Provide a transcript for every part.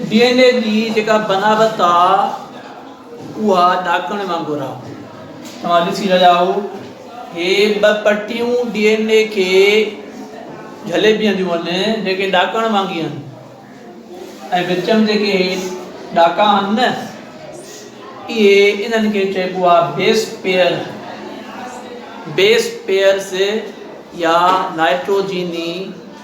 D N A جي جيڪا بناوت آ اها ڏاڪڻ وانگر آ توهان ڏسي رهيا آهو هي ٻه پٽيون ڊي اين اي کي جهلي بيهنديون آهن جيڪي ڏاڪڻ وانگي آهن ۽ وچ ۾ جيڪي هي ڏاڪا آهن نه اهي انهن کي چئبو آهي بيس پيئر بيس پيئرس يا نائٽروجيني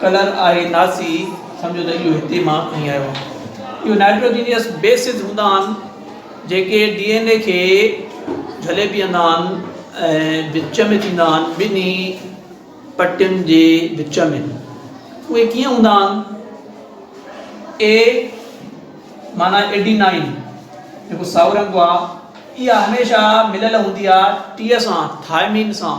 ڪلر آهي ناسي، سمجهو ته اهو هتي مان کڻي آيو آهيان. اهي نائٽروجينيئس بيسز هوندا آهن جيڪي ڊي اين اي کي جهلي پيئندا آهن ۽ وچ ۾ ٿيندا آهن ٻنهي پٽين جي وچ ۾ اهي ڪيئن هوندا آهن اي معنيٰ ايڊينائين جيڪو سائو رنگ آهي اها هميشه مليل هوندي آهي ٽيء سان ٿائمين سان.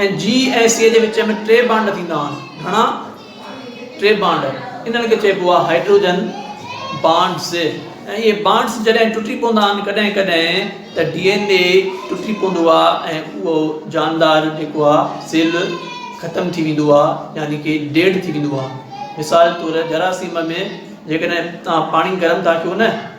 ۽ جي ۽ سي جي وچ ۾ ٽي بانڊ ٿيندا آهن. گهڻا ٽي بانڊ انهن کي چئبو آهي هائڊروجن بانڊز ۽ اهي بانڊز جڏهن ٽٽي پوندا آهن ڪڏهن ڪڏهن ته ڊي اين اي ٽٽي پوندو آهي ۽ اهو جاندار جيڪو آهي سيل ختم ٿي ويندو آهي يعني ڪي ڊيڊ ٿي ويندو آهي مثال طور جراثيم ۾ جيڪڏهن توهان پاڻي گرم ٿا ڪيو نه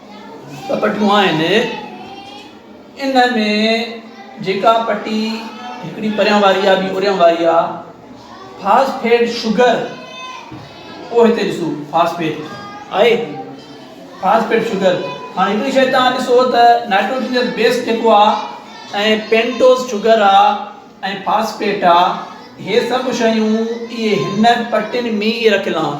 ٻه پٽيون آهن. ان ۾ جيڪا پٽي هڪڙي پريان واري آهي ٻي اريان واري آهي. فاسفيٽ شگر اهو هتي ڏسو فاسفيٽ آهي فاسفيٽ شگر هاڻي هڪڙي شيء تان ڏسو ته نائٽروجنس بيس جيڪو آهي ۽ پينٽوز شگر آهي ۽ فاسفيٽ آهي هي سڀ شيون اهي هن پٽين ۾ ئي رکيل آهن.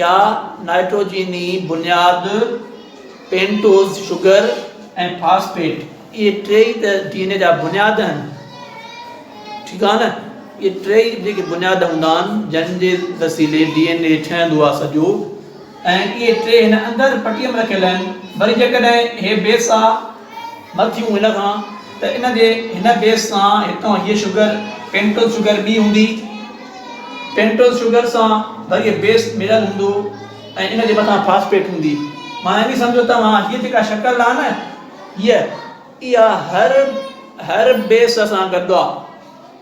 يا نائٽروجيني بنياد، پينٽوز شگر ۽ فاسفيٽ اهي ٽي ئي ته ڊي اين اي جا بنياد آهن ٺيڪ آهي نه اهي ٽي ئي جيڪي بنياد هوندا آهن جن جي وسيلي ڊي اين اي ٺهندو آهي سڄو ۽ اهي ٽي هن اندر پٽي ۾ رکيل آهن وري جيڪڏهن هي بيس آهي نه ٿيون ان کان ته ان جي هن بيس سان هتان هيء شگر پينٽوز شگر ٻي هوندي پينٽوز شگر سان وري بيس مليل هوندو ۽ ان جي مٿان فاسفيٽ هوندي معنيٰ ائين سمجهو توهان هيء جيڪا شڪل آهي نه هيء اها هر هر بيس سان گڏ آهي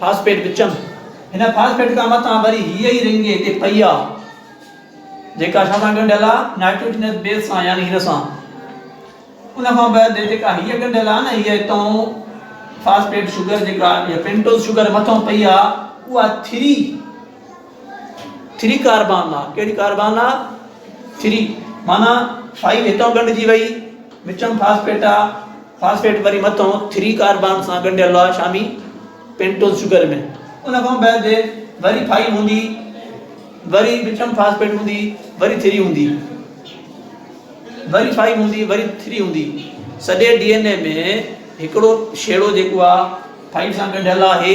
فاسفيٽ وچن هن فاسفيٽ کان مٿان وري هيء ئي رنگ هتي پئي آ جيڪا ڇا سان ڳنڍيل آ نائٽروجنس بيس سان يعني هن سان ان کان بعد جيڪا هيء ڳنڍيل آ نه هيء هتون فاسفيٽ شگر جيڪا يا پينٽوز شگر مٿان پئي آ اها ٿري ٿري ڪاربان لا، ڪهڙي ڪاربان لا؟ ٿري معنيٰ فائيو هتان ڳنڍجي وئي، وچم فاسفيٽ آ، فاسفيٽ وري مٿو ٿري ڪاربان سان ڳنڍيل لا شامي پينٽوز شگر ۾ ان کان بعد وري فائيو هوندي، وري وچم فاسفيٽ هوندي، وري ٿري هوندي، وري فائيو هوندي، وري ٿري هوندي. سڄي ڊي اين اي ۾ هڪڙو شيڙو جيڪو آ فائيو سان ڳنڍيل آهي،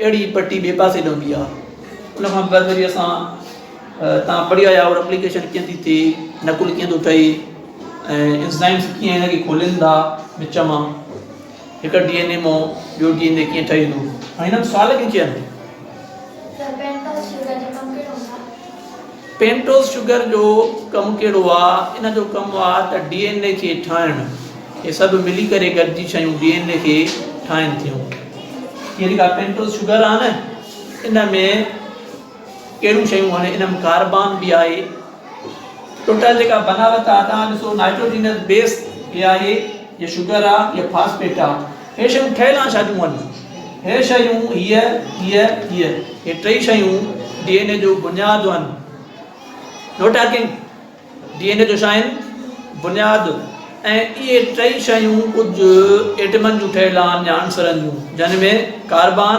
اهڙي ئي پٽي ٻئي پاسي ڏانهن به آهي. ان کان بعد وري اسان تان پڙهي آيا اور اپليڪيشن ڪيئن ٿي ٿئي، نقل ڪيئن ٿو ٺهي ۽ انزائمز ڪيئن هن کي کولين ٿا وچ مان، هڪ ڊي اين اي مان ٻيو ڊي اين اي ڪيئن ٺهي ٿو ۽ هنن سوال ڪيئن ڪيا آهن. پينٽوز شگر جو ڪم ڪهڙو آ؟ ان جو ڪم آ ته ڊي اين اي کي ٺاهڻ. هي سڀ ملي ڪري گڏجي شيون ڊي اين اي کي ٺاهين ٿيون. هي جيڪا پينٽوز شگر آ نه ان ۾ ڪهڙيون شيون آهن ان ۾ ڪاربان به آهي. ٽوٽل جيڪا بناوت آ تان ڏسو نائٽروجينس بيس هي آهي يا شگر آ يا فاسفيٽ آ. هي شيون ٺهيل آن شاديون هن. هي شيون، هيء، هيء، هيء، هي ٽئي شيون ڊي اين اي جو بنياد هن. No talking. D N A جو ڇا هن؟ بنياد. ۽ اهي ٽئي شيون ڪجهه ايٽمن جون ٺهيل آن يا عنصرن جون، جن ۾ ڪاربان،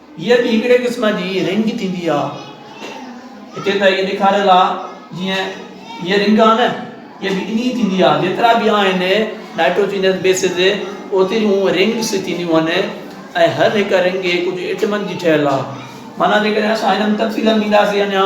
هيء به هڪڙي قسم جي رنگ ٿيندي آ. هتي ته اهي ڏيکاريل آ جيئن هيء رنگ آ نه هيء به انهيء ٿيندي آ. جيترا به آهن نائٽروجينس بيسز اوتريون رنگس ٿينديون هن ۽ هر هڪ رنگ ڪجهه ايٽمن جي ٺهيل آ. معنيٰ جيڪڏهن اسان هنن تفصيلن ڏينداسين اڃا.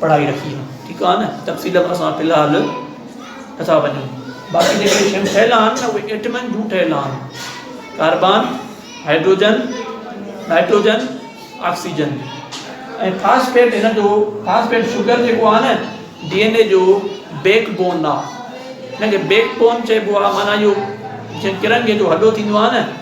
پڙهائي رکي آ ٺيڪ آ نه تفصيل ۾ اسان في الحال نٿا وڃون باقي جيڪي شيون ٺهيل آهن نه اهي ايٽمن جون ٺهيل آهن carbon hydrogen nitrogen oxygen ۽ phosphate هن جو فاسفيٽ شوگر جيڪو آ نه ڊي اين اي جو بيڪ بون آ هن کي بيڪ بون چئبو آ معنيٰ اهو جيئن ڪرنگهي جو هڏو ٿيندو آ نه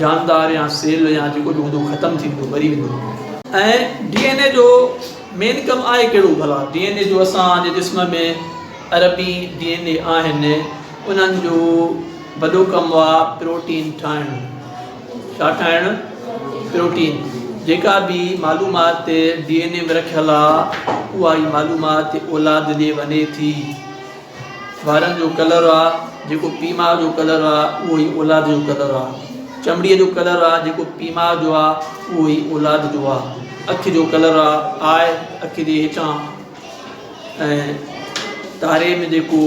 جاندار يا سيل يا جيڪو به هوندو ختم ٿيندو مري ويندو. ۽ ڊي اين اي جو مين ڪم آهي ڪهڙو ڀلا؟ ڊي اين اي جو اسان جي جسم ۾ اربين ڊي اين اي آهن انهن جو وڏو ڪم آ پروٽين ٺاهڻ ڇا ٺاهڻ پروٽين جيڪا به معلومات ڊي اين اي ۾ رکيل آ اها ئي معلومات اولاد ڏي وڃي ٿي. وارن جو ڪلر آ جيڪو پيء ماء جو ڪلر آ اهو ئي اولاد جو ڪلر آ. چمڙيء جو ڪلر آ جيڪو پيء ماء جو آ اهو ئي اولاد جو آ. اک جو ڪلر آ آء اک جي هيٺان ۽ تاري ۾ جيڪو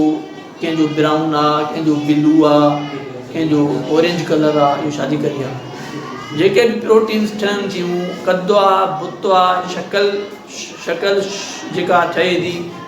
ڪنهن جو برائون آ ڪنهن جو بلو آ ڪنهن جو اورينج ڪلر آ اهو شادي ڪري آ. جيڪي به پروٽينز ٺهن ٿيون قد آ بت آ شڪل شڪل جيڪا ٺهي ٿي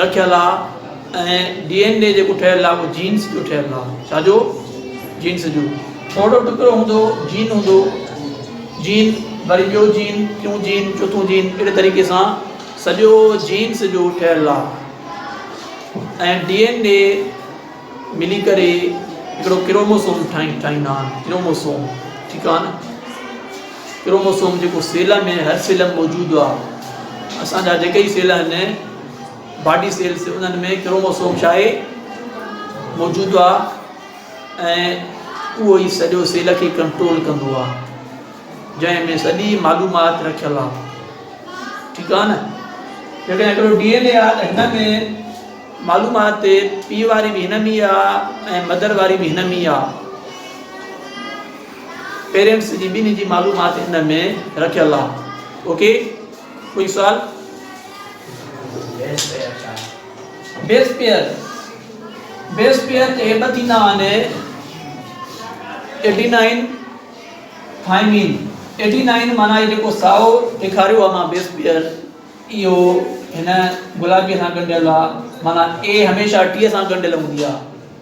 رکيل آ ۽ ڊي اين اي جيڪو ٺهيل آ اهو جينز جو ٺهيل آ ڇا جو جينز جو ٿورو ٽڪرو هوندو جين هوندو جين وري ٻيو جين ٽيون جين چوٿون جين اهڙي طريقي سان سڄو جينز جو ٺهيل آ ۽ ڊي اين اي ملي ڪري هڪڙو ڪروموسوم ٺاهي ٺاهيندا آهن ڪروموسوم ٺيڪ آ نه ڪروموسوم جيڪو سيل ۾ هر سيل ۾ موجود آ اسان جا جيڪي ئي سيل آهن باڊي سيلس انهن ۾ ڪروموسوم ڇا آهي موجود آ ۽ اهو ئي سڄو سيل کي ڪنٽرول ڪندو آ جنهن ۾ سڄي معلومات رکيل آ ٺيڪ آ نه جيڪڏهن هڪڙو ڊي اين اي آ ته هن ۾ معلومات پيء واري به هن ۾ آ ۽ مدر واري به هن ۾ آ پيرينٽس جي ٻنهي جي معلومات ان ۾ رکيل آ اوڪي ڪوئي سوال. بيس پيئر بيس پيئر جي ٻه ٿيندا آهن ايڊينائن ٿائمين ايڊينائن معنيٰ هي جيڪو سائو ڏيکاريو آهي مان بيس پيئر اهو هن گلابي سان ڳنڍيل آهي معنيٰ اي هميشه ٽي سان ڳنڍيل هوندي آهي